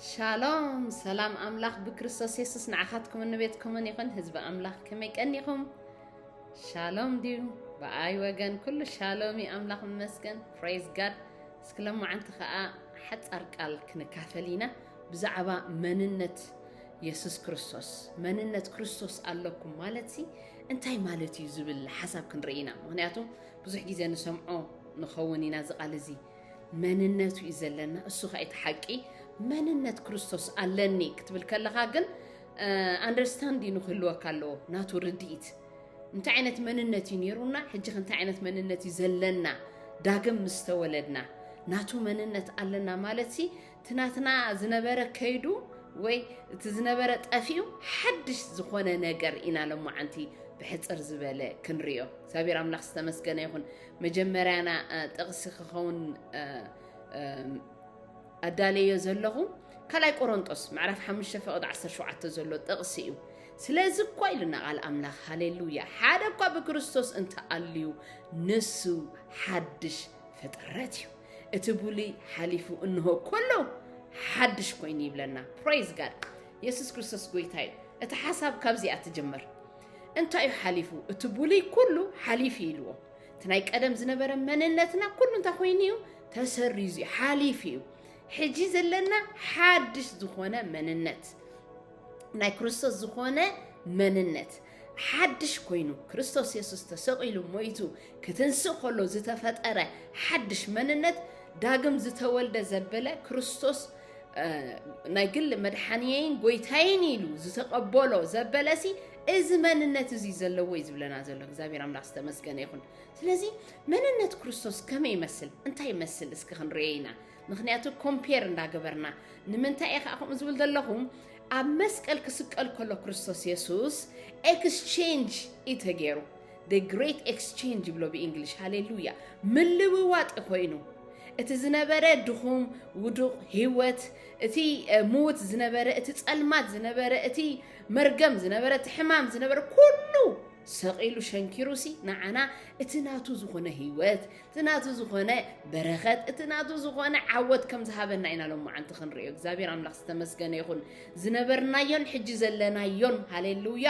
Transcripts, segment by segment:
ሻሎም ሰላም ኣምላኽ ብክርስቶስ የሱስ ንዓኻትኩምን ንቤትኩምን ይኹን ህዝቢ ኣምላኽ ከመይ ቀኒኹም ሻሎም ድዩ ብኣይ ወገን ኩሉ ሻሎም እዩ ኣምላኽ መመስገን ፕሬዝ ጋድ እስኪ ለማዓንቲ ከዓ ሓፃር ቃል ክንካፈል ኢና ብዛዕባ መንነት የሱስ ክርስቶስ መንነት ክርስቶስ ኣለኩም ማለት ሲ እንታይ ማለት እዩ ዝብል ሓሳብ ክንርኢ ኢና ምክንያቱ ብዙሕ ግዜ ንሰምዖ ንኸውን ኢና እዚ ቃል እዚ መንነቱ እዩ ዘለና እሱ ከ እቲ ሓቂ መንነት ክርስቶስ ኣለኒ ክትብል ከለካ ግን ኣንደርስታንዲ ንክህልወካ ኣለዎ ናቱ ርድኢት እንታይ ዓይነት መንነት እዩ ነይሩና ሕጂ እንታይ ዓይነት መንነት እዩ ዘለና ዳግም ምስተወለድና ናቱ መንነት ኣለና ማለት ሲ እቲ ናትና ዝነበረ ከይዱ ወይ እቲ ዝነበረ ጠፊኡ ሓድሽ ዝኾነ ነገር ኢና ሎማዓንቲ ብሕፅር ዝበለ ክንሪኦ እግዚኣብሔር ኣምላኽ ዝተመስገነ ይኹን መጀመርያና ጥቕሲ ክኸውን ኣዳለዮ ዘለኹ ካልኣይ ቆሮንጦስ ምዕራፍ 5 ፍቕድ 17 ዘሎ ጥቕሲ እዩ ስለዚ እኳ ኢልና ቃል ኣምላኽ ሃሌሉያ ሓደ እኳ ብክርስቶስ እንተኣልዩ ንሱ ሓድሽ ፍጥረት እዩ እቲ ብሉይ ሓሊፉ እንሆ ኮሎ ሓድሽ ኮይኑ ይብለና ፕራይዝ ጋድ የሱስ ክርስቶስ ጎይታ እዩ እቲ ሓሳብ ካብዚኣ ትጅምር እንታይ እዩ ሓሊፉ እቲ ብሉይ ኩሉ ሓሊፉ ኢልዎ እቲ ናይ ቀደም ዝነበረ መንነትና ኩሉ እንታይ ኮይኑ እዩ ተሰሪዙ እዩ ሓሊፉ እዩ ሕጂ ዘለና ሓድሽ ዝኾነ መንነት ናይ ክርስቶስ ዝኾነ መንነት ሓድሽ ኮይኑ ክርስቶስ የሱስ ተሰቒሉ ሞይቱ ክትንስእ ከሎ ዝተፈጠረ ሓድሽ መንነት ዳግም ዝተወልደ ዘበለ ክርስቶስ ናይ ግሊ መድሓንየይን ጎይታይን ኢሉ ዝተቐበሎ ዘበለሲ እዚ መንነት እዚ ዘለዎ እዩ ዝብለና ዘሎ እግዚኣብሔር ኣምላኽ ዝተመስገነ ይኹን ስለዚ መንነት ክርስቶስ ከመይ ይመስል እንታይ ይመስል እስኪ ክንርኤ ኢና ምክንያቱ ኮምፔር እንዳገበርና ንምንታይ እየ ከዓ ከምኡ ዝብል ዘለኹ ኣብ መስቀል ክስቀል ከሎ ክርስቶስ የሱስ ኤክስቼንጅ እዩ ተገይሩ the great exchange ብሎ ብእንግሊሽ ሃሌሉያ ምልውዋጥ እዩ ኮይኑ እቲ ዝነበረ ድኹም ውዱቕ ህይወት እቲ ምውት ዝነበረ እቲ ጸልማት ዝነበረ እቲ መርገም ዝነበረ እቲ ሕማም ዝነበረ ኩሉ ሰቒሉ ሸንኪሩሲ ንዓና እቲ ናቱ ዝኾነ ህይወት እቲ ናቱ ዝኾነ በረኸት እቲ ናቱ ዝኾነ ዓወት ከም ዝሃበና ኢና ሎማዓንቲ ክንሪኦ እግዚኣብሔር ኣምላኽ ዝተመስገነ ይኹን ዝነበርናዮን ሕጂ ዘለናዮን ሃሌሉያ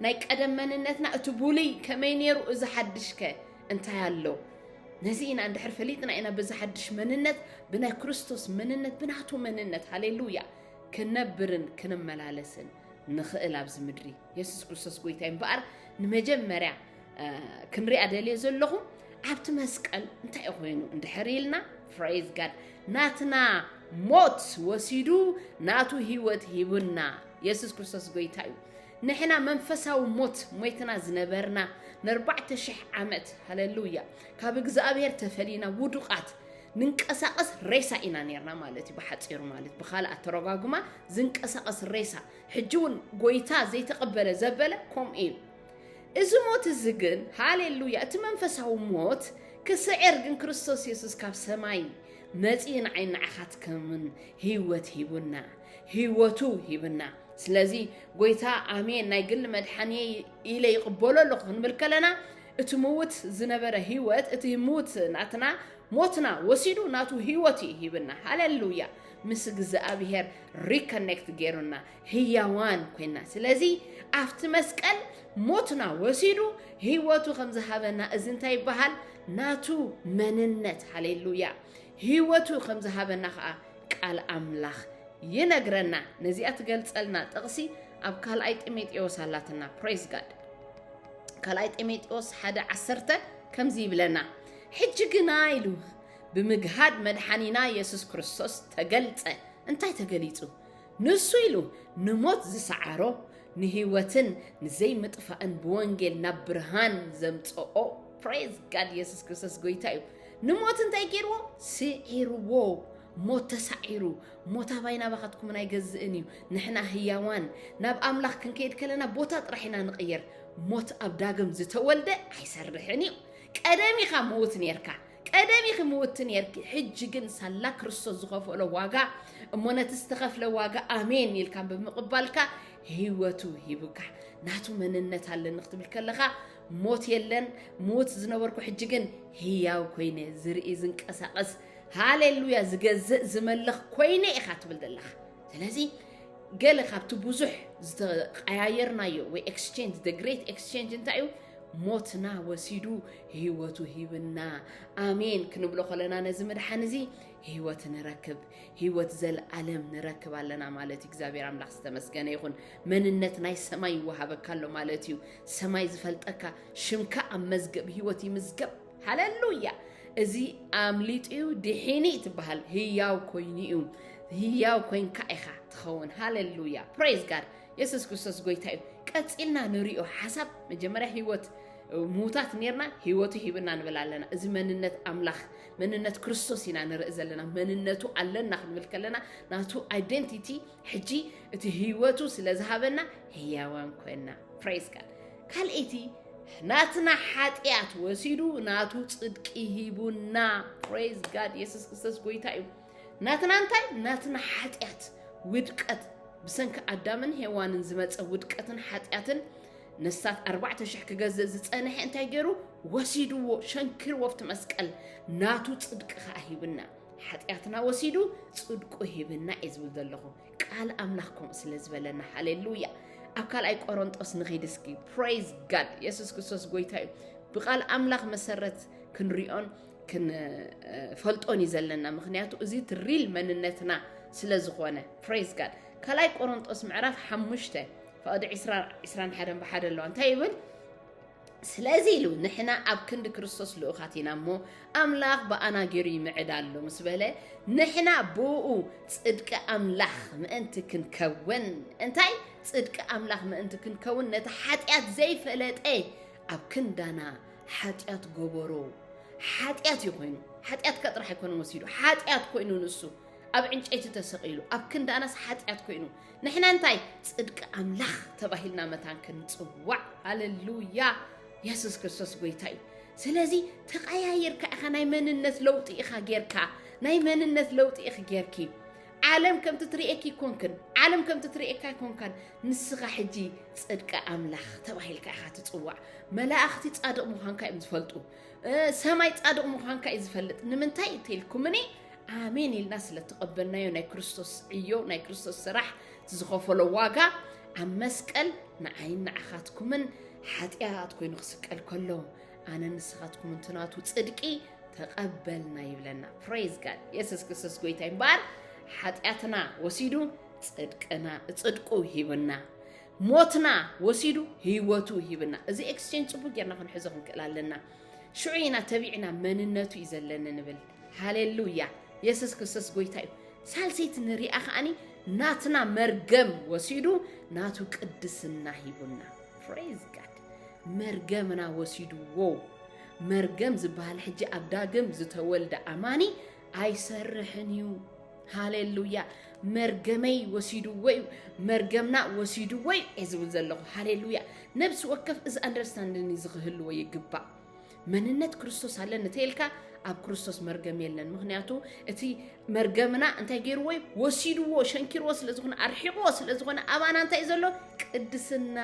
ናይ ቀደም መንነትና እቲ ቡልይ ከመይ ነይሩ እዚ ሓድሽ ከ እንታይ ኣሎ ነዚ ኢና እንድሕር ፈሊጥና ኢና በዚ ሓድሽ መንነት ብናይ ክርስቶስ መንነት ብናቱ መንነት ሃሌሉያ ክንነብርን ክንመላለስን ንኽእል ኣብዚ ምድሪ የሱስ ክርስቶስ ጎይታ እምበኣር ንመጀመርያ ክንሪኣ ደልየ ዘለኹ ኣብቲ መስቀል እንታይ ኮይኑ እንድሕር ኢልና ፍሬዝ ጋድ ናትና ሞት ወሲዱ ናቱ ህይወት ሂቡና የሱስ ክርስቶስ ጎይታ እዩ ንሕና መንፈሳዊ ሞት ሞይትና ዝነበርና ንኣርባዕተ ሽሕ ዓመት ሃለሉያ ካብ እግዚኣብሔር ተፈሊና ውዱቃት ንንቀሳቀስ ሬሳ ኢና ነርና ማለት እዩ ብሓፂሩ ማለት ብካልእ ኣተረጓጉማ ዝንቀሳቀስ ሬሳ ሕጂ እውን ጎይታ ዘይተቐበለ ዘበለ ከምኡ እዩ እዚ ሞት እዚ ግን ሃሌሉያ እቲ መንፈሳዊ ሞት ክስዕር ግን ክርስቶስ የሱስ ካብ ሰማይ መጺኡ ንዓይ ንዓኻትኩምን ህይወት ሂቡና ህይወቱ ሂብና ስለዚ ጎይታ ኣሜን ናይ ግሊ መድሓኒ ኢለ ይቕበሎ ኣለኹ ክንብል ከለና እቲ ምውት ዝነበረ ህይወት እቲ ምውት ናትና ሞትና ወሲዱ ናቱ ህይወት እዩ ሂብና ሃሌሉያ ምስ እግዚኣብሄር ሪኮኔክት ገይሩና ህያዋን ኮይና ስለዚ ኣብቲ መስቀል ሞትና ወሲዱ ህይወቱ ከም ዝሃበና እዚ እንታይ ይበሃል ናቱ መንነት ሃሌሉያ ህይወቱ ከም ዝሃበና ከዓ ቃል ኣምላኽ ይነግረና ነዚኣ ትገልፀልና ጥቕሲ ኣብ ካልኣይ ጢሞቴዎስ ኣላትና ፕሬዝ ጋድ ካልኣይ ጢሞቴዎስ ሓደ ዓሰርተ ከምዚ ይብለና ሕጂ ግና ኢሉ ብምግሃድ መድሓኒና የሱስ ክርስቶስ ተገልጸ እንታይ ተገሊጹ ንሱ ኢሉ ንሞት ዝሰዓሮ ንህይወትን ንዘይምጥፋእን ብወንጌል ናብ ብርሃን ዘምጽኦ ፕሬዝ ጋድ የሱስ ክርስቶስ ጎይታ እዩ ንሞት እንታይ ገይርዎ ስዒርዎ ሞት ተሳዒሩ ሞት ኣባይ ናባኻትኩምን ኣይገዝእን እዩ ንሕና ህያዋን ናብ ኣምላኽ ክንከይድ ከለና ቦታ ጥራሕ ኢና ንቕየር ሞት ኣብ ዳግም ዝተወልደ ኣይሰርሕን እዩ ቀደም ኢኻ ምውት ነርካ ቀደም ኢኺ ምውቲ ኔርኪ ሕጂ ግን ሳላ ክርስቶስ ዝኸፈሎ ዋጋ እሞ ነቲ ዝተኸፍለ ዋጋ ኣሜን ኢልካ ብምቕባልካ ህይወቱ ሂቡካ ናቱ መንነት ኣለኒ ክትብል ከለኻ ሞት የለን ምውት ዝነበርኩ ሕጂ ግን ህያው ኮይነ ዝርኢ ዝንቀሳቐስ ሃሌሉያ ዝገዝእ ዝመልኽ ኮይነ ኢኻ ትብል ዘለኻ ስለዚ ገለ ካብቲ ብዙሕ ዝተቀያየርናዮ ወይ ኤክስቼንጅ ደ ግሬት ኤክስቼንጅ እንታይ እዩ ሞትና ወሲዱ ህይወቱ ሂብና ኣሜን ክንብሎ ከለና ነዚ ምድሓን እዚ ህይወት ንረክብ ህይወት ዘለኣለም ንረክብ ኣለና ማለት እዩ እግዚኣብሔር ኣምላኽ ዝተመስገነ ይኹን መንነት ናይ ሰማይ ይወሃበካ ኣሎ ማለት እዩ ሰማይ ዝፈልጠካ ሽምካ ኣብ መዝገብ ህይወት ይምዝገብ ሃለሉያ እዚ ኣምሊጡ እዩ ድሒኒ ትበሃል ህያው ኮይኑ እዩ ህያው ኮንካ ኢኻ ትኸውን ሃለሉያ ፕሬዝ ጋድ የሱስ ክርስቶስ ጎይታ እዩ ቀፂልና ንሪኦ ሓሳብ መጀመርያ ህይወት ምዉታት ኔርና ህይወቱ ሂብና ንብል ኣለና እዚ መንነት ኣምላኽ መንነት ክርስቶስ ኢና ንርኢ ዘለና መንነቱ ኣለና ክንብል ከለና ናቱ ኣይደንቲቲ ሕጂ እቲ ህይወቱ ስለ ዝሃበና ህያዋን ኮይና ፕሬስ ጋድ ካልኣይቲ ናትና ሓጢኣት ወሲዱ ናቱ ፅድቂ ሂቡና ፕሬዝ ጋድ የሱስ ክርስቶስ ጎይታ እዩ ናትና እንታይ ናትና ሓጢኣት ውድቀት ብሰንኪ ኣዳምን ሄዋንን ዝመፀ ውድቀትን ሓጢኣትን ነፍሳት ኣርባዕተ ሽሕ ክገዝእ ዝጸንሐ እንታይ ገይሩ ወሲድዎ ሸንኪርዎ ኣብቲ መስቀል ናቱ ጽድቂ ከዓ ሂብና ሓጢኣትና ወሲዱ ጽድቁ ሂብና እየ ዝብል ዘለኹ ቃል ኣምላኽ ከምኡ ስለ ዝበለና ሃሌሉያ ኣብ ካልኣይ ቆሮንጦስ ንኺድ እስኪ ፕሬዝ ጋድ የሱስ ክርስቶስ ጎይታ እዩ ብቃል ኣምላኽ መሰረት ክንሪኦን ክንፈልጦን እዩ ዘለና ምክንያቱ እዚ ትሪል መንነትና ስለ ዝኾነ ፕሬዝ ጋድ ካልኣይ ቆሮንጦስ ምዕራፍ ሓሙሽተ ፈቕዲ ዕስራ ዕስራን ሓደን ብሓደ ኣለዋ። እንታይ ይብል? ስለዚ ኢሉ ንሕና ኣብ ክንዲ ክርስቶስ ልኡኻት ኢና እሞ ኣምላኽ ብኣና ገይሩ ይምዕዳሎ ምስ በለ ንሕና ብኡ ጽድቂ ኣምላኽ ምእንቲ ክንከውን እንታይ ጽድቂ ኣምላኽ ምእንቲ ክንከውን ነቲ ሓጢኣት ዘይፈለጠ ኣብ ክንዳና ሓጢኣት ጎበሮ ሓጢኣት እዩ ኮይኑ ሓጢኣት ከ ጥራሕ ኣይኮነ ወሲዱ ሓጢኣት ኮይኑ ንሱ ኣብ ዕንጨይቲ ተሰቒሉ ኣብ ክንዳናስ ሓጢኣት ኮይኑ ንሕና እንታይ ጽድቂ ኣምላኽ ተባሂልና መታን ክንጽዋዕ ሃለሉያ የሱስ ክርስቶስ ጎይታ እዩ ስለዚ ተቀያይርካ ኢኻ ናይ መንነት ለውጢ ኢኻ ጌርካ ናይ መንነት ለውጢ ኢኺ ጌርኪ ዓለም ከምቲ ትርእየኪ ይኮንክን ዓለም ከምቲ ትርእየካ ይኮንካን ንስኻ ሕጂ ጽድቂ ኣምላኽ ተባሂልካ ኢኻ ትጽዋዕ መላእኽቲ ጻድቕ ምዃንካ እዮም ዝፈልጡ ሰማይ ጻድቕ ምዃንካ እዩ ዝፈልጥ ንምንታይ እንተኢልኩምኒ ኣሜን ኢልና ስለ ተቐበልናዮ ናይ ክርስቶስ ዕዮ ናይ ክርስቶስ ስራሕ ዝኸፈሎ ዋጋ ኣብ መስቀል ንዓይን ንዓኻትኩምን ሓጢኣት ኮይኑ ክስቀል ከሎ ኣነ ንስኻትኩምን ትናቱ ፅድቂ ተቐበልና ይብለና ፕሬዝ ጋድ የሱስ ክርስቶስ ጎይታ ይምበኣር ሓጢኣትና ወሲዱ ፅድቅና ፅድቁ ሂብና ሞትና ወሲዱ ህይወቱ ሂብና እዚ ኤክስቼንጅ ፅቡቅ ጌርና ክንሕዞ ክንክእል ኣለና ሽዑ ኢና ተቢዕና መንነቱ እዩ ዘለኒ ንብል ሃሌሉያ የሱስ ክርስቶስ ጎይታ እዩ። ሳልሰይቲ ንሪኣ ከዓኒ ናትና መርገም ወሲዱ ናቱ ቅድስና ሂቡና። ፕሬዝ ጋድ መርገምና ወሲድዎ። መርገም ዝበሃል ሕጂ ኣብ ዳግም ዝተወልደ ኣማኒ ኣይሰርሕን እዩ። ሃሌሉያ መርገመይ ወሲድዎ እዩ መርገምና ወሲድዎ እዩ እየ ዝብል ዘለኹ ሃሌሉያ ነብሲ ወከፍ እዚ ኣንደርስታንድን እዚ ክህልዎ ይግባእ መንነት ክርስቶስ ኣለኒ ተይልካ ኣብ ክርስቶስ መርገም የለን ምክንያቱ እቲ መርገምና እንታይ ገይርዎ እዩ ወሲድዎ ሸንኪርዎ ስለ ዝኾነ ኣርሒቕዎ ስለ ዝኾነ ኣባና እንታይ እዩ ዘሎ ቅድስና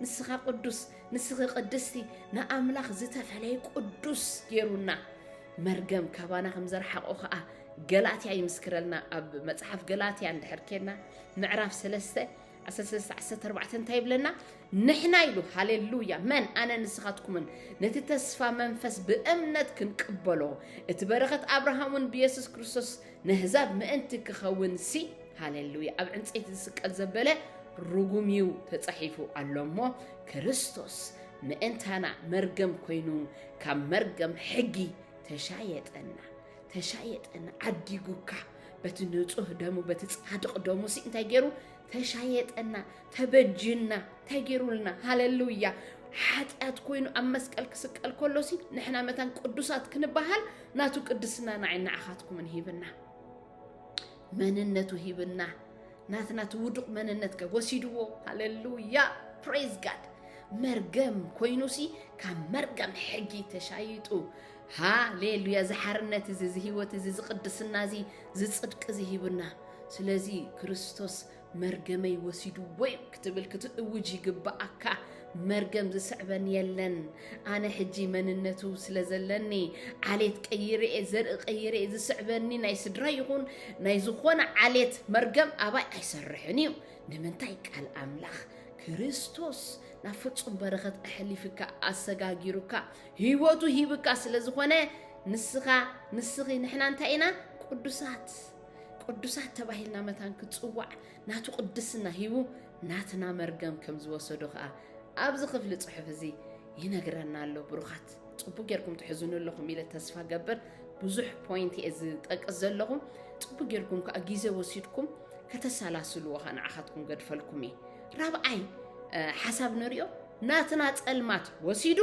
ንስኻ ቅዱስ ንስኺ ቅድስቲ ንኣምላኽ ዝተፈለየ ቅዱስ ገይሩና መርገም ካባና ከም ዘርሓቆ ከዓ ገላትያ ይምስክረልና ኣብ መፅሓፍ ገላትያ እንድሕር ኬድና ምዕራፍ ሰለስተ ዓሰርተ ሰለስተ ዓሰርተ ኣርባዕተ እንታይ ይብለና? ንሕና ኢሉ ሃሌሉያ መን ኣነ ንስኻትኩምን ነቲ ተስፋ መንፈስ ብእምነት ክንቅበሎ እቲ በረኸት ኣብርሃም እውን ብየሱስ ክርስቶስ ነህዛብ ምእንቲ ክኸውን ሲ ሃሌሉያ ኣብ ዕንፀይቲ ዝስቀል ዘበለ ርጉም እዩ ተጻሒፉ ኣሎ እሞ ክርስቶስ ምእንታና መርገም ኮይኑ ካብ መርገም ሕጊ ተሻየጠና ተሻየጠና ዓዲጉካ በቲ ንጹህ ደሙ በቲ ጻድቕ ደሙ ሲ እንታይ ገይሩ ተሻየጠና ተበጅና እንታይ ገይሩልና ሃለሉያ ሓጢኣት ኮይኑ ኣብ መስቀል ክስቀል ከሎ ሲ ንሕና መታን ቅዱሳት ክንበሃል ናቱ ቅድስና ንዓይ ንዓኻትኩምን ሂብና መንነቱ ሂብና ናትና እቲ ውዱቕ መንነት ከ ወሲድዎ ሃለሉያ ፕሬዝ ጋድ መርገም ኮይኑ ሲ ካብ መርገም ሕጊ ተሻይጡ ሃሌ ሉያ እዚ ሓርነት እዚ እዚ ህይወት እዚ እዚ ቅድስና እዚ እዚ ጽድቂ እዚ ሂቡና ስለዚ ክርስቶስ መርገመይ ወሲድዎ እዩ ክትብል ክትእውጅ ይግብኣካ መርገም ዝስዕበን የለን ኣነ ሕጂ መንነቱ ስለ ዘለኒ ዓሌት ቀይረ እየ ዘርኢ ቀይረ እየ ዝስዕበኒ ናይ ስድራ ይኹን ናይ ዝኾነ ዓሌት መርገም ኣባይ ኣይሰርሕን እዩ ንምንታይ ቃል ኣምላኽ ክርስቶስ ናብ ፍጹም በረኸት ኣሕሊፍካ ኣሰጋጊሩካ ህይወቱ ሂብካ ስለ ዝኾነ ንስኻ ንስኺ ንሕና እንታይ ኢና ቅዱሳት ቅዱሳት ተባሂልና መታን ክጽዋዕ ናቱ ቅድስና ሂቡ ናትና መርገም ከም ዝወሰዶ ከኣ ኣብዚ ክፍሊ ጽሑፍ እዚ ይነግረና ኣሎ ብሩኻት ጽቡቅ ጌርኩም ትሕዝኑ ኣለኹም ኢለ ተስፋ ገብር ብዙሕ ፖይንት እየ ዝጠቅስ ዘለኹ ጽቡቅ ጌርኩም ከዓ ግዜ ወሲድኩም ከተሰላስልዎ ከዓ ንዓኻትኩም ገድፈልኩም እየ ራብዓይ ሓሳብ ንሪኦ ናትና ጸልማት ወሲዱ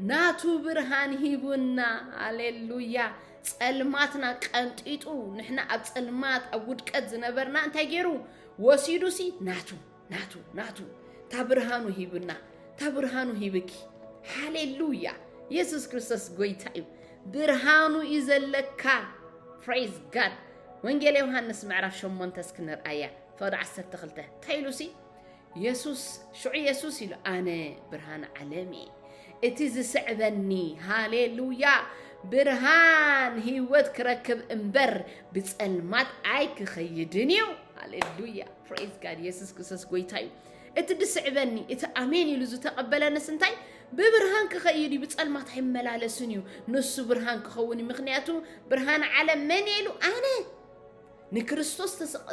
ናቱ ብርሃን ሂቡና። ሃሌሉያ! ጸልማትና ቀንጢጡ ንሕና ኣብ ጸልማት ኣብ ውድቀት ዝነበርና እንታይ ገይሩ ወሲዱሲ ናቱ ናቱ ናቱ እታ ብርሃኑ ሂቡና እታ ብርሃኑ ሂብኪ። ሃሌሉያ! የሱስ ክርስቶስ ጎይታ እዩ። ብርሃኑ እዩ ዘለካ። ፕሬዝ ጋድ ወንጌል ዮሃንስ ምዕራፍ ሸሞንተ እስኪ ንርኣያ ፍቕዲ ዓሰርተ ክልተ እንታይ ኢሉሲ የሱስ ሽዑ የሱስ ኢሉ ኣነ ብርሃን ዓለም እየ እቲ ዝስዕበኒ ሃሌሉያ ብርሃን ህይወት ክረክብ እምበር ብጸልማት ኣይክኸይድን እዩ ሃሌሉያ ፕሬዝ ጋድ የሱስ ክርስቶስ ጎይታ እዩ እቲ ድስዕበኒ እቲ ኣሜን ኢሉ ዝተቐበለንስ እንታይ ብብርሃን ክኸይድ እዩ ብጸልማት ኣይመላለስን እዩ ንሱ ብርሃን ክኸውን እዩ ምክንያቱ ብርሃን ዓለም መን ኢሉ ኣነ ንክርስቶስ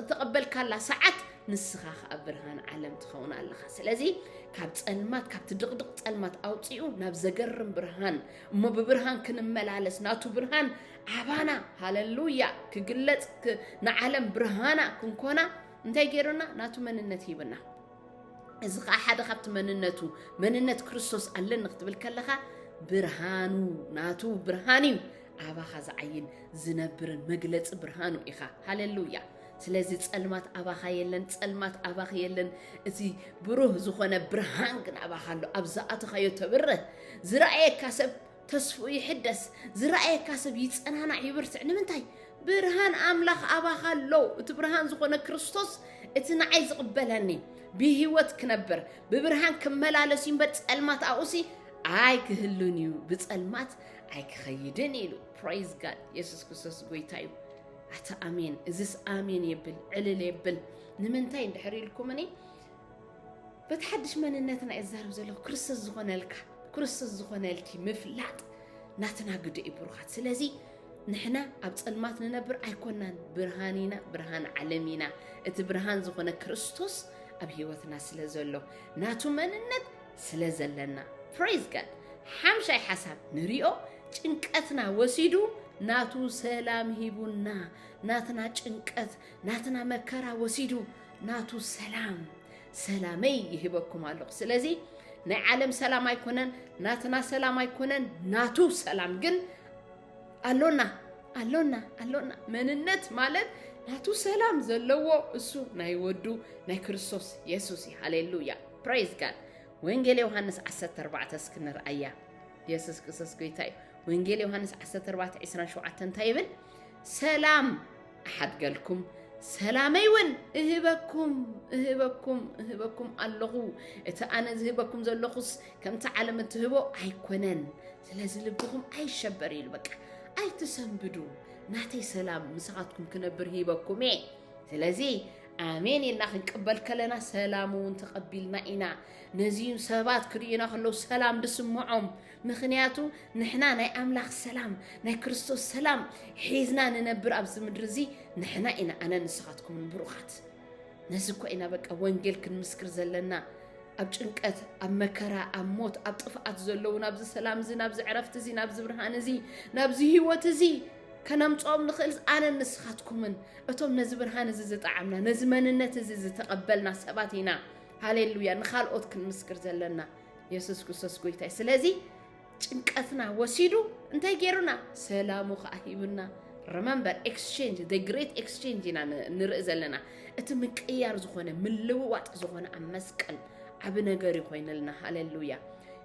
ተቐበልካላ ሰዓት ንስኻ ከዓ ብርሃን ዓለም ትኸውን ኣለኻ ስለዚ ካብ ጸልማት ካብቲ ድቕድቕ ጸልማት ኣውፅኡ ናብ ዘገርም ብርሃን እሞ ብብርሃን ክንመላለስ ናቱ ብርሃን ዓባና ሃለሉያ ክግለጽ ንዓለም ብርሃና ክንኮና እንታይ ገይሩና ናቱ መንነት ሂብና እዚ ከዓ ሓደ ካብቲ መንነቱ መንነት ክርስቶስ ኣለኒ ክትብል ከለኻ ብርሃኑ ናቱ ብርሃን እዩ ኣባኻ ዝዓይን ዝነብርን መግለፂ ብርሃኑ ኢኻ ሃሌሉያ ስለዚ ፀልማት ኣባኻ የለን ፀልማት ኣባኺ የለን እቲ ብሩህ ዝኾነ ብርሃን ግን ኣባኻ ኣሎ ኣብ ዝኣተኻዮ ተብርህ ዝረኣየካ ሰብ ተስፍኡ ይሕደስ፣ ዝረኣየካ ሰብ ይጸናናዕ ይበርትዕ፣ ንምንታይ? ብርሃን ኣምላኽ ኣባኻ ኣሎ፣ እቲ ብርሃን ዝኾነ ክርስቶስ እቲ ንዓይ ዝቕበለኒ ብህይወት ክነብር ብብርሃን ክመላለስ እዩ እምበር ጸልማት ኣብኡሲ ኣይክህሉን እዩ፣ ብጸልማት ኣይክኸይድን ኢሉ። ፕራይዝ ጋድ የሱስ ክርስቶስ ጎይታ እዩ። ኣታ ኣሜን እዝስ ኣሜን የብል ዕልል የብል ንምንታይ እንድሕር ኢልኩምኒ በቲ ሓድሽ መንነትና እየ ዝዛረብ ዘለኹ ክርስቶስ ዝኾነልካ ክርስቶስ ዝኾነልኪ ምፍላጥ ናትና ግደ እዩ ብሩኻት ስለዚ ንሕና ኣብ ጸልማት ንነብር ኣይኮናን ብርሃን ኢና ብርሃን ዓለም ኢና እቲ ብርሃን ዝኾነ ክርስቶስ ኣብ ህይወትና ስለ ዘሎ ናቱ መንነት ስለ ዘለና ፕሬዝ ጋድ ሓምሻይ ሓሳብ ንሪኦ ጭንቀትና ወሲዱ ናቱ ሰላም ሂቡና ናትና ጭንቀት ናትና መከራ ወሲዱ ናቱ ሰላም ሰላመይ ይህበኩም ኣለኹ። ስለዚ ናይ ዓለም ሰላም ኣይኮነን፣ ናትና ሰላም ኣይኮነን፣ ናቱ ሰላም ግን ኣሎና ኣሎና ኣሎና። መንነት ማለት ናቱ ሰላም ዘለዎ እሱ ናይ ወዱ ናይ ክርስቶስ የሱስ እዩ። ሃሌሉያ ፕሬዝ ጋድ። ወንጌል ዮሃንስ 14 እስኪ ንርኣያ። የሱስ ክርስቶስ ጎይታ እዩ። ወንጌል ዮሃንስ 14 27 እንታይ ይብል? ሰላም እሓድገልኩም ሰላመይ እውን እህበኩም እህበኩም እህበኩም ኣለኹ እቲ ኣነ ዝህበኩም ዘለኹስ ከምቲ ዓለም እትህቦ ኣይኮነን ስለዚ ልብኹም ኣይሸበር ኢሉ በቃ ኣይትሰንብዱ ናተይ ሰላም ምሳኻትኩም ክነብር ሂበኩም እየ ስለዚ ኣሜን ኢልና ክንቅበል ከለና ሰላም እውን ተቐቢልና ኢና ነዚዩ ሰባት ክርእዩና ከለዉ ሰላም ድስምዖም ምኽንያቱ ንሕና ናይ ኣምላኽ ሰላም ናይ ክርስቶስ ሰላም ሒዝና ንነብር ኣብዚ ምድሪ እዚ ንሕና ኢና ኣነ ንስኻትኩምን ብሩኻት ነዚ እኮ ኢና በቃ ወንጌል ክንምስክር ዘለና ኣብ ጭንቀት ኣብ መከራ ኣብ ሞት ኣብ ጥፍኣት ዘለዉ ናብዚ ሰላም እዚ ናብዚ ዕረፍቲ እዚ ናብዚ ብርሃን እዚ ናብዚ ህይወት እዚ ከነምፅኦም ንኽእል ኣነን ንስኻትኩምን እቶም ነዚ ብርሃን እዚ ዝጠዓምና ነዚ መንነት እዚ ዝተቐበልና ሰባት ኢና ሃሌሉያ ንካልኦት ክንምስክር ዘለና የሱስ ክርስቶስ ጎይታይ ስለዚ ጭንቀትና ወሲዱ እንታይ ገይሩና ሰላሙ ከዓ ሂቡና ረመምበር ኤክስቼንጅ ደ ግሬት ኤክስቼንጅ ኢና ንርኢ ዘለና እቲ ምቅያር ዝኾነ ምልውዋጥ ዝኾነ ኣብ መስቀል ዓብ ነገር እዩ ኮይነልና ሃሌሉያ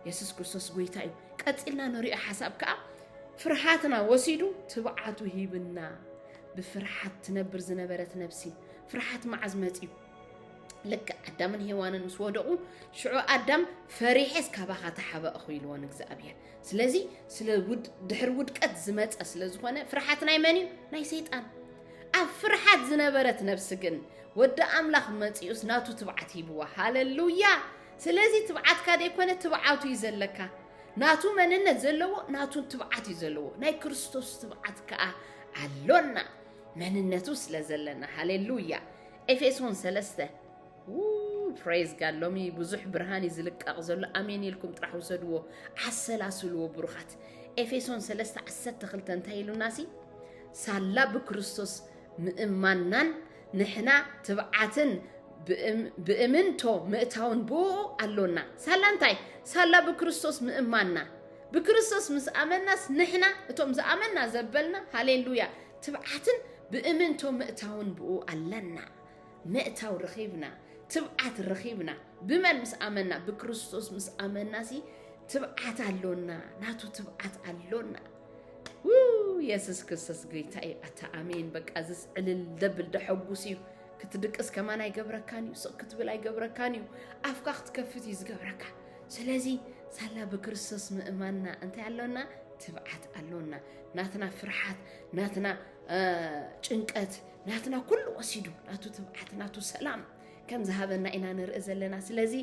የሱስ ክርስቶስ ጎይታ እዩ ቀፂልና ንሪኦ ሓሳብ ከዓ ፍርሃትና ወሲዱ ትብዓቱ ሂብና ብፍርሓት ትነብር ዝነበረት ነብሲ ፍርሓት መዓዝ መፅዩ ልክዕ ኣዳምን ሄዋንን ምስ ወደቑ ሽዑ ኣዳም ፈሪሐስ ካባኻ ተሓበእኹ ኢልዎ ንእግዚኣብሔር ስለዚ ስለ ድሕሪ ውድቀት ዝመፀ ስለ ዝኾነ ፍርሓት ናይ መን እዩ ናይ ሰይጣን ኣብ ፍርሓት ዝነበረት ነብሲ ግን ወዲ ኣምላኽ መፂኡስ ናቱ ትብዓት ሂብዋ ሃለሉያ ስለዚ ትብዓትካ ደይኮነ ትብዓቱ እዩ ዘለካ ናቱ መንነት ዘለዎ ናቱ ትብዓት እዩ ዘለዎ ናይ ክርስቶስ ትብዓት ከዓ ኣሎና መንነቱ ስለ ዘለና ሃሌሉያ ኤፌሶን ሰለስተ ፕሬዝ ጋድ ሎሚ ብዙሕ ብርሃን እዩ ዝልቀቕ ዘሎ ኣሜን ኢልኩም ጥራሕ ውሰድዎ ዓሰላስልዎ ብሩኻት ኤፌሶን ሰለስተ ዓሰርተ ክልተ እንታይ ኢሉና ሲ ሳላ ብክርስቶስ ምእማናን ንሕና ትብዓትን ብእምንቶ ምእታውን ብኡ ኣሎና ሳላ እንታይ ሳላ ብክርስቶስ ምእማና ብክርስቶስ ምስ ኣመናስ ንሕና እቶም ዝኣመና ዘበልና ሃሌሉያ ትብዓትን ብእምንቶ ምእታውን ብኡ ኣለና ምእታው ረኺብና ትብዓት ረኺብና ብመን ምስ ኣመና ብክርስቶስ ምስ ኣመና ሲ ትብዓት ኣሎና ናቱ ትብዓት ኣሎና የሱስ ክርስቶስ ጎይታ እዩ ኣታ ኣሜን በቃ ዝስ ዕልል ደብል ደሐጉስ እዩ ክትድቅስ ከማን ኣይገብረካን እዩ ስቕ ክትብል ኣይገብረካን እዩ ኣፍካ ክትከፍት እዩ ዝገብረካ ስለዚ ሳላ ብክርስቶስ ምእማንና እንታይ ኣሎና ትብዓት ኣሎና ናትና ፍርሓት ናትና ጭንቀት ናትና ኩሉ ወሲዱ ናቱ ትብዓት ናቱ ሰላም ከም ዝሃበና ኢና ንርኢ ዘለና ስለዚ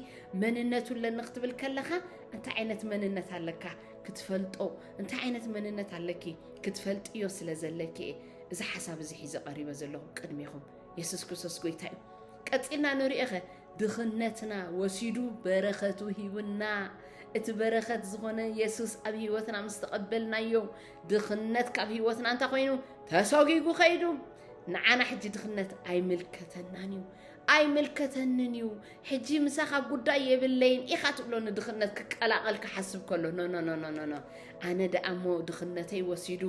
መንነቱ ኣለኒ ክትብል ከለኻ እንታይ ዓይነት መንነት ኣለካ ክትፈልጦ እንታይ ዓይነት መንነት ኣለኪ ክትፈልጥዮ ስለ ዘለኪ እየ እዚ ሓሳብ እዚ ሒዘ ቀሪበ ዘለኹ ቅድሚኹም የሱስ ክርስቶስ ጎይታ እዩ ቀፂልና ንሪኦኸ ድኽነትና ወሲዱ በረኸቱ ሂቡና እቲ በረኸት ዝኾነ የሱስ ኣብ ህይወትና ምስ ተቐበልናዮ ድኽነት ካብ ህይወትና እንታይ ኮይኑ ተሰጒጉ ከይዱ ንዓና ሕጂ ድኽነት ኣይምልከተናን እዩ ኣይምልከተንን እዩ ሕጂ ምሳኻ ጉዳይ የብለይን ኢኻ ትብሎ ንድኽነት ክቀላቐል ክሓስብ ከሎ ኖኖኖኖኖ ኣነ ደኣ እሞ ድኽነተይ ወሲዱ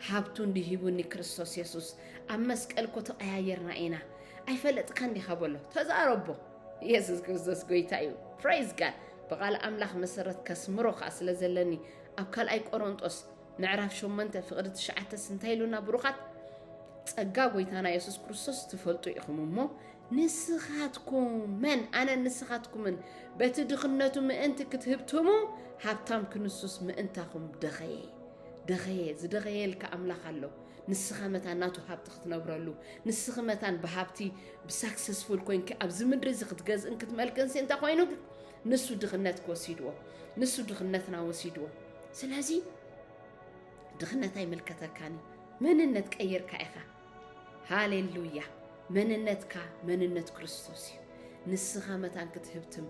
ሃብቱ እንዲሂቡኒ ክርስቶስ የሱስ ኣብ መስቀል ኮ ተቐያየርና ኢና ኣይፈለጥካ እንዲኻ በሎ ተዛረቦ የሱስ ክርስቶስ ጎይታ እዩ ፕራይዝ ጋድ ብቓል ኣምላኽ መሰረት ከስምሮ ከዓ ስለ ዘለኒ ኣብ ካልኣይ ቆሮንጦስ ምዕራፍ ሸሞንተ ፍቕዲ ትሽዓተስ እንታይ ኢሉና ብሩኻት? ጸጋ ጎይታና የሱስ ክርስቶስ ትፈልጡ ኢኹም እሞ ንስኻትኩምን ኣነ ንስኻትኩምን በቲ ድኽነቱ ምእንቲ ክትህብትሙ ሃብታም ክንሱስ ምእንታኹም ደኸየ ደኸየ ዝደኸየልካ ኣምላኽ ኣሎ ንስኻ መታን ናቱ ሃብቲ ክትነብረሉ ንስኺ መታን ብሃብቲ ብሳክሰስፉል ኮንኪ ኣብዚ ምድሪ እዚ ክትገዝእን ክትመልክንሲ እንታይ ኮይኑ ንሱ ድኽነት ክወሲድዎ ንሱ ድኽነትና ወሲድዎ። ስለዚ ድኽነት ኣይምልከተካን እዩ። መንነት ቀይርካ ኢኻ። ሃሌሉያ! መንነትካ መንነት ክርስቶስ እዩ። ንስኻ መታን ክትህብትም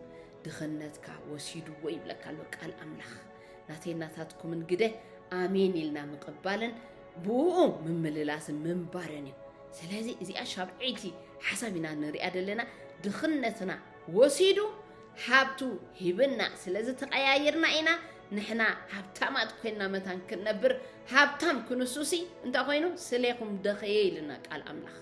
ድኽነትካ ወሲድዎ ይብለካ ኣሎ ቃል ኣምላኽ። ናተይ ናታትኩምን ግደ ኣሜን ኢልና ምቕባልን ብኡ ምምልላስን ምንባርን እዩ። ስለዚ እዚኣ ሻብዐይቲ ሓሳብ ኢና ንሪኣ ዘለና ድኽነትና ወሲዱ ሃብቱ ሂብና ስለዚ ተቀያይርና ኢና ንሕና ሃብታማት ኮይና መታን ክንነብር ሃብታም ክንሱሲ እንታይ ኮይኑ ስሌኹም ደኸየ ኢልና ቃል ኣምላኽ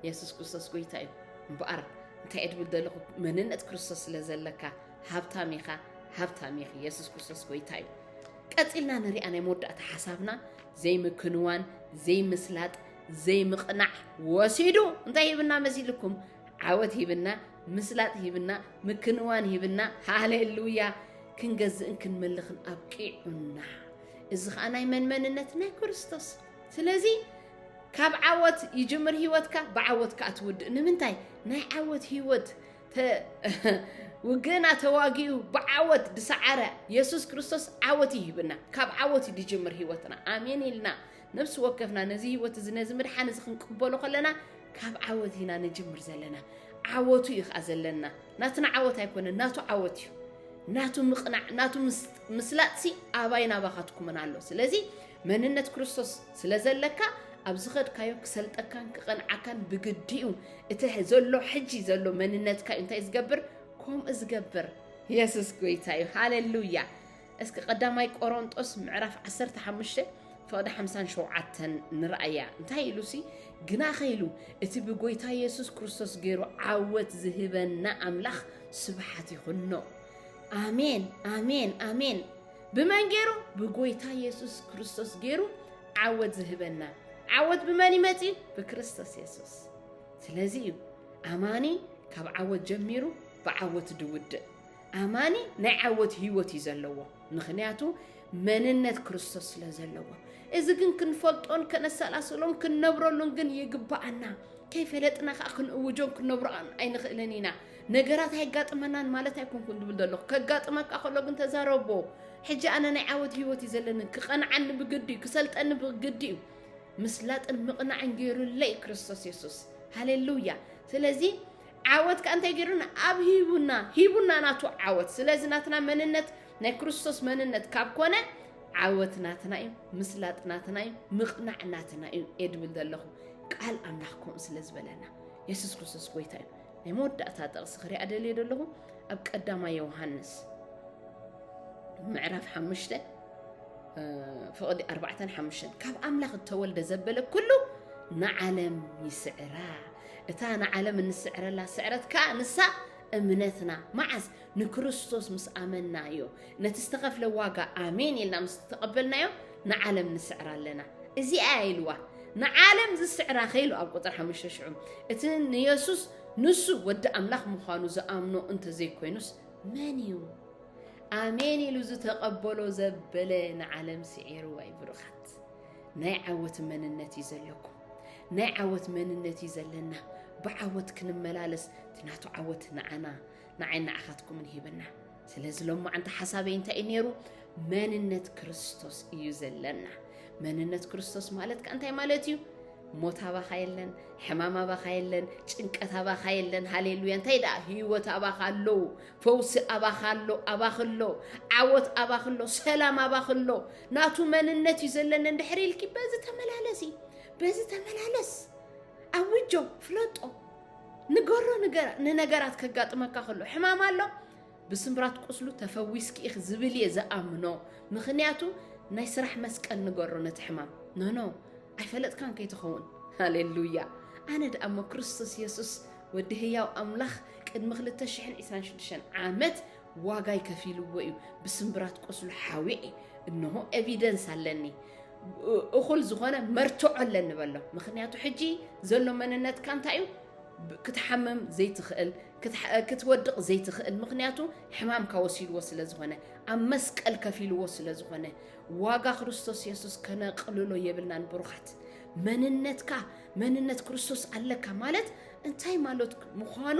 የሱስ ክርስቶስ ጎይታ እዩ እምበኣር እንታይ እድብል ዘለኹ መንነት ክርስቶስ ስለ ዘለካ ሃብታም ኢኻ ሃብታም ኢኺ የሱስ ክርስቶስ ጎይታ እዩ ቀፂልና ንሪኣ ናይ መወዳእታ ሓሳብና ዘይምክንዋን ዘይምስላጥ ዘይምቕናዕ ወሲዱ እንታይ ይብና መሲልኩም ዓወት ሂብና፣ ምስላጥ ሂብና፣ ምክንዋን ሂብና፣ ሃሌሉያ፣ ክንገዝእን ክንመልኽን ኣብቂዑና። እዚ ከዓ ናይ መን መንነት? ናይ ክርስቶስ። ስለዚ ካብ ዓወት ይጅምር ህይወትካ፣ ብዓወት ከዓ ትውድእ። ንምንታይ? ናይ ዓወት ህይወት ውግእና ተዋጊኡ ብዓወት ዝሰዓረ የሱስ ክርስቶስ ዓወት ይሂብና። ካብ ዓወት እዩ ዝጅምር ህይወትና። ኣሜን ኢልና ነፍሲ ወከፍና ነዚ ህይወት እዚ ነዚ ምድሓን እዚ ክንቅበሎ ከለና ካብ ዓወት ኢና ንጅምር ዘለና ዓወቱ እዩ ከዓ ዘለና ናትና ዓወት ኣይኮነን ናቱ ዓወት እዩ ናቱ ምቕናዕ ናቱ ምስላጥሲ ኣባይ ናባኻትኩምን ኣሎ ስለዚ መንነት ክርስቶስ ስለ ዘለካ ኣብ ዝኸድካዮ ክሰልጠካን ክቐንዓካን ብግዲ እዩ እቲ ዘሎ ሕጂ ዘሎ መንነትካ እዩ እንታይ ዝገብር ከምኡ ዝገብር የሱስ ጎይታ እዩ ሃሌሉያ እስኪ ቀዳማይ ቆሮንጦስ ምዕራፍ ዓሰርተ ሓሙሽተ ፍቕዲ ሓምሳን ሸውዓተን ንርኣያ እንታይ ኢሉሲ ግናኸ ኢሉ እቲ ብጎይታ የሱስ ክርስቶስ ገይሩ ዓወት ዝህበና ኣምላኽ ስብሓት ይኹኖ ኣሜን ኣሜን ኣሜን ብመን ገይሩ ብጎይታ የሱስ ክርስቶስ ገይሩ ዓወት ዝህበና ዓወት ብመን ይመፅ እዩ ብክርስቶስ የሱስ ስለዚ እዩ ኣማኒ ካብ ዓወት ጀሚሩ ብዓወት ድውድእ ኣማኒ ናይ ዓወት ህይወት እዩ ዘለዎ ምኽንያቱ መንነት ክርስቶስ ስለ ዘለዎ። እዚ ግን ክንፈልጦን ከነሰላስሎን ክንነብረሉን ግን ይግባኣና። ከይፈለጥና ከዓ ክንእውጆን ክንነብሮን ኣይንኽእልን ኢና። ነገራት ኣይጋጥመናን ማለት ኣይኮንኩን ዝብል ዘለኹ ከጋጥመካ ከሎ ግን ተዛረቦ ሕጂ ኣነ ናይ ዓወት ህይወት እዩ ዘለኒ ክቐንዓኒ ብግዲ እዩ ክሰልጠኒ ብግዲ እዩ ምስላጥን ምቕናዕን ገይሩለይ ክርስቶስ የሱስ ሃሌሉያ ስለዚ ዓወት ከኣ እንታይ ገይሩና ኣብ ሂቡና ሂቡና ናቱ ዓወት ስለዚ ናትና መንነት ናይ ክርስቶስ መንነት ካብ ኮነ ዓወት ናትና እዩ ምስላጥ ናትና እዩ ምቕናዕ ናትና እዩ እየ ድብል ዘለኹ ቃል ኣምላኽ ከምኡ ስለ ዝበለና የሱስ ክርስቶስ ጎይታ እዩ ናይ መወዳእታ ጥቕሲ ክሪኣ ደልየ ደለኹ ኣብ ቀዳማ ዮሃንስ ምዕራፍ ሓሙሽተ ፍቕዲ ኣርባዕተን ሓሙሽተን ካብ ኣምላኽ እተወልደ ዘበለ ኩሉ ንዓለም ይስዕራ እታ ንዓለም እንስዕረላ ስዕረት ከኣ ንሳ እምነትና መዓስ ንክርስቶስ ምስ ኣመንናዮ ነቲ ዝተኸፍለ ዋጋ ኣሜን ኢልና ምስ ተቐበልናዮ ንዓለም ንስዕራ ኣለና እዚኣ ኢልዋ ንዓለም ዝስዕራ ከይሉ ኣብ ቁጥር ሓሙሽተ ሽዑ እቲ ንየሱስ ንሱ ወዲ ኣምላኽ ምዃኑ ዝኣምኖ እንተዘይኮይኑስ መን እዩ ኣሜን ኢሉ ዝተቐበሎ ዘበለ ንዓለም ስዒርዋ እዩ ብሩኻት ናይ ዓወት መንነት እዩ ዘለኩም ናይ ዓወት መንነት እዩ ዘለና ብዓወት ክንመላለስ እቲ ናቱ ዓወት ንዓና ንዓይ ንዓኻትኩምን ሂብና ስለዚ ሎም መዓንቲ ሓሳበይ እንታይ እዩ ነይሩ መንነት ክርስቶስ እዩ ዘለና መንነት ክርስቶስ ማለት ከ እንታይ ማለት እዩ ሞት ኣባኻ የለን ሕማም ኣባኻ የለን ጭንቀት ኣባኻ የለን ሃሌሉያ እንታይ ደኣ ህይወት ኣባኻ ኣሎ ፈውሲ ኣባኻ ኣሎ ኣባኽ ኣሎ ዓወት ኣባኽ ኣሎ ሰላም ኣባኽ ኣሎ ናቱ መንነት እዩ ዘለኒ እንድሕር ኢልኪ በዚ ተመላለሲ በዚ ተመላለስ ኣውጆ ፍለጦ ንገሮ ንገራ ንነገራት ከጋጥመካ ከሎ ሕማም ኣሎ ብስምራት ቁስሉ ተፈዊስኪ ኢኺ ዝብል እየ ዝኣምኖ ምክንያቱ ናይ ስራሕ መስቀል ንገሮ ነቲ ሕማም ኖኖ ኣይፈለጥካን ከይትኸውን ሃሌሉያ ኣነ ደኣ እሞ ክርስቶስ የሱስ ወዲ ህያው ኣምላኽ ቅድሚ 226 ዓመት ዋጋይ ከፊልዎ እዩ ብስምብራት ቁስሉ ሓዊዔ እንሆ ኤቪደንስ ኣለኒ እኹል ዝኾነ መርትዖ ኣለኒ በሎ ምክንያቱ ሕጂ ዘሎ መንነትካ እንታይ እዩ ክትሓምም ዘይትኽእል ክትወድቕ ዘይትኽእል ምክንያቱ ሕማምካ ወሲድዎ ስለ ዝኾነ ኣብ መስቀል ከፊልዎ ስለ ዝኾነ ዋጋ ክርስቶስ የሱስ ከነቕልሎ የብልናን ብሩኻት መንነትካ መንነት ክርስቶስ ኣለካ ማለት እንታይ ማለት ምዃኑ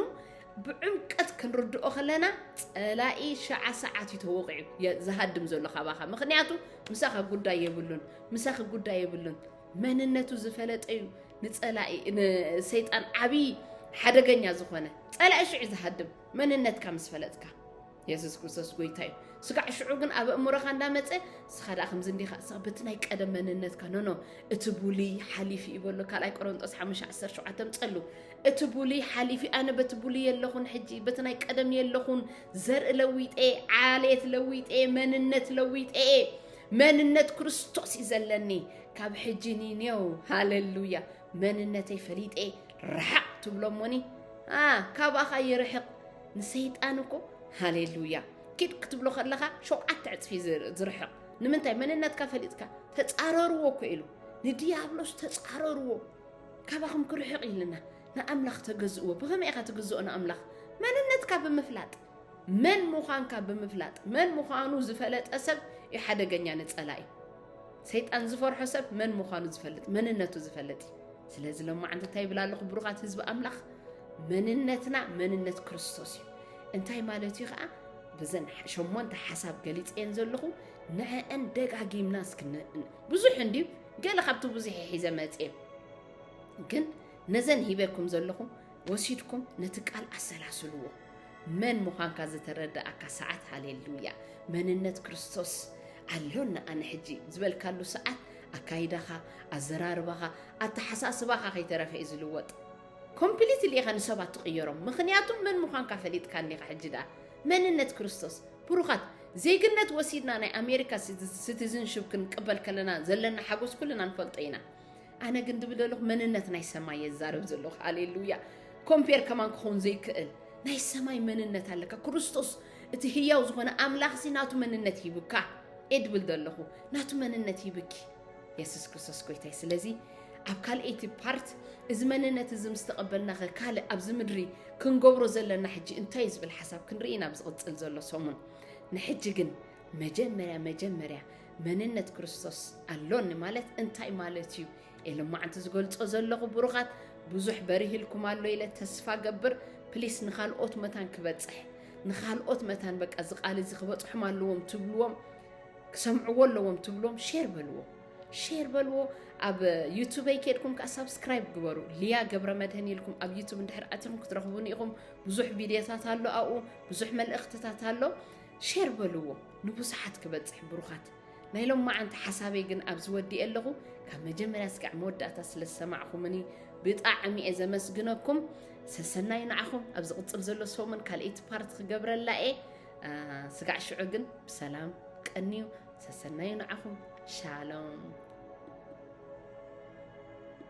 ብዕምቀት ክንርድኦ ከለና ጸላኢ ሸዓ ሰዓት እዩ ተወቂዑ የ- ዝሃድም ዘሎ ካባኻ ምክንያቱ ምሳኻ ጉዳይ የብሉን ምሳኺ ጉዳይ የብሉን መንነቱ ዝፈለጠ እዩ ንጸላኢ ንሰይጣን ዓብዪ ሓደገኛ ዝኾነ ጸላኢ ሽዑ ዝሃድም መንነትካ ምስ ፈለጥካ የሱስ ክርስቶስ ጎይታ እዩ ስጋዕ ሽዑ ግን ኣብ እምሮኻ እንዳመፀ ስኻ ደኣ ከምዚ እንዲኻ ስኻ በቲ ናይ ቀደም መንነትካ ኖኖ እቲ ቡሊ ሓሊፊ እዩ በሎ ካልኣይ ቆሮንጦስ 517 ምፀሉ እቲ ቡሊ ሓሊፊ ኣነ በቲ ቡሊ የለኹን ሕጂ በቲ ናይ ቀደም የለኹን ዘርኢ ለዊጠ ዓሌት ለዊጠ መንነት ለዊጠ መንነት ክርስቶስ እዩ ዘለኒ ካብ ሕጂ ኒኔው ሃለሉያ መንነተይ ፈሊጠ ረሓቕ ትብሎ እሞኒ ካባኻ ይርሕቕ ንሰይጣን እኮ ሃሌሉያ ኪድ ክትብሎ ከለኻ ሸውዓተ ዕፅፊ ዝርሕቕ ንምንታይ መንነትካ ፈሊጥካ ተፃረርዎ እኮ ኢሉ ንዲያብሎስ ተፃረርዎ ካባኹም ክርሕቕ ኢልና ንኣምላኽ ተገዝእዎ ብኸመይ ኢኻ ትግዝኦ ንኣምላኽ መንነትካ ብምፍላጥ መን ምዃንካ ብምፍላጥ መን ምዃኑ ዝፈለጠ ሰብ እዩ ሓደገኛ ንፀላኢ ሰይጣን ዝፈርሖ ሰብ መን ምዃኑ ዝፈልጥ መንነቱ ዝፈልጥ እዩ ስለዚ ሎማዓንቲ እንታይ ይብል ኣለኹ ብሩኻት ህዝቢ ኣምላኽ መንነትና መንነት ክርስቶስ እዩ እንታይ ማለት እዩ ከዓ ብዘን ሸሞንተ ሓሳብ ገሊፀን ዘለኹ ንዐአን ደጋጊምና እስክ ብዙሕ እንድዩ ገለ ካብቲ ብዙሕ ሒዘ መፅየ ግን ነዘን ሂበኩም ዘለኹ ወሲድኩም ነቲ ቃል ኣሰላስልዎ መን ምዃንካ ዝተረድኣካ ሰዓት ሃሌሉያ መንነት ክርስቶስ ኣሎና ኣነ ሕጂ ዝበልካሉ ሰዓት ኣካይዳኻ ኣዘራርባኻ ኣተሓሳስባኻ ከይተረፈ እዩ ዝልወጥ ኮምፕሊትሊ ኢኻ ንሰባት ትቕየሮም ምክንያቱም መን ምዃንካ ፈሊጥካኒ ኢኻ ሕጂ ደኣ መንነት ክርስቶስ ብሩኻት ዜግነት ወሲድና ናይ ኣሜሪካ ሲቲዝንሽፕ ክንቅበል ከለና ዘለና ሓጎስ ኩልና ንፈልጦ ኢና ኣነ ግን ድብል ዘለኹ መንነት ናይ ሰማይ የዛረብ ዘለኹ ሃሌሉያ ኮምፔር ከማን ክኸውን ዘይክእል ናይ ሰማይ መንነት ኣለካ ክርስቶስ እቲ ህያው ዝኾነ ኣምላኽ ሲ ናቱ መንነት ሂብካ እየ ድብል ዘለኹ ናቱ መንነት ሂብኪ የሱስ ክርስቶስ ጎይታይ ስለዚ ኣብ ካልኣይቲ ፓርት እዚ መንነት እዚ ምስ ተቐበልና ኸ ካልእ ኣብዚ ምድሪ ክንገብሮ ዘለና ሕጂ እንታይ እዩ ዝብል ሓሳብ ክንርኢ ናብ ዝቕፅል ዘሎ ሰሙን ንሕጂ ግን መጀመርያ መጀመርያ መንነት ክርስቶስ ኣሎኒ ማለት እንታይ ማለት እዩ? ኤሎማዓንቲ ዝገልጾ ዘለኹ ብሩኻት ብዙሕ በሪህልኩም ኣሎ ኢለ ተስፋ ገብር ፕሊስ ንኻልኦት መታን ክበጽሕ ንኻልኦት መታን በቃ እዚ ቃል እዚ ክበጽሖም ኣለዎም ትብልዎም ክሰምዕዎ ኣለዎም ትብልዎም ሼር በልዎ ሼር በልዎ ኣብ ዩቱበይ ከድኩም ከዓ ሳብስክራይብ ግበሩ ልያ ገብረ መድህን ኢልኩም ኣብ ዩቱብ እንድሕር ኣትኹም ክትረኽቡኒ ኢኹም ብዙሕ ቪድዮታት ኣሎ ኣብኡ ብዙሕ መልእኽትታት ኣሎ ሼር በልዎ ንብዙሓት ክበጽሕ ብሩኻት። ናይ ሎማዓንቲ ሓሳበይ ግን ኣብዚ ወዲኤ ኣለኹ ካብ መጀመርያ ስጋዕ መወዳእታ ስለ ዝሰማዕኹምኒ ብጣዕሚ እየ ዘመስግነኩም ሰሰናዩ ንዓኹም ኣብ ዝቕጽል ዘሎ ሰሙን ካልኤይቲ ፓርት ክገብረላ እየ ስጋዕ ሽዑ ግን ብሰላም ቀንዩ ሰሰናዩ ንዓኹም ሻሎም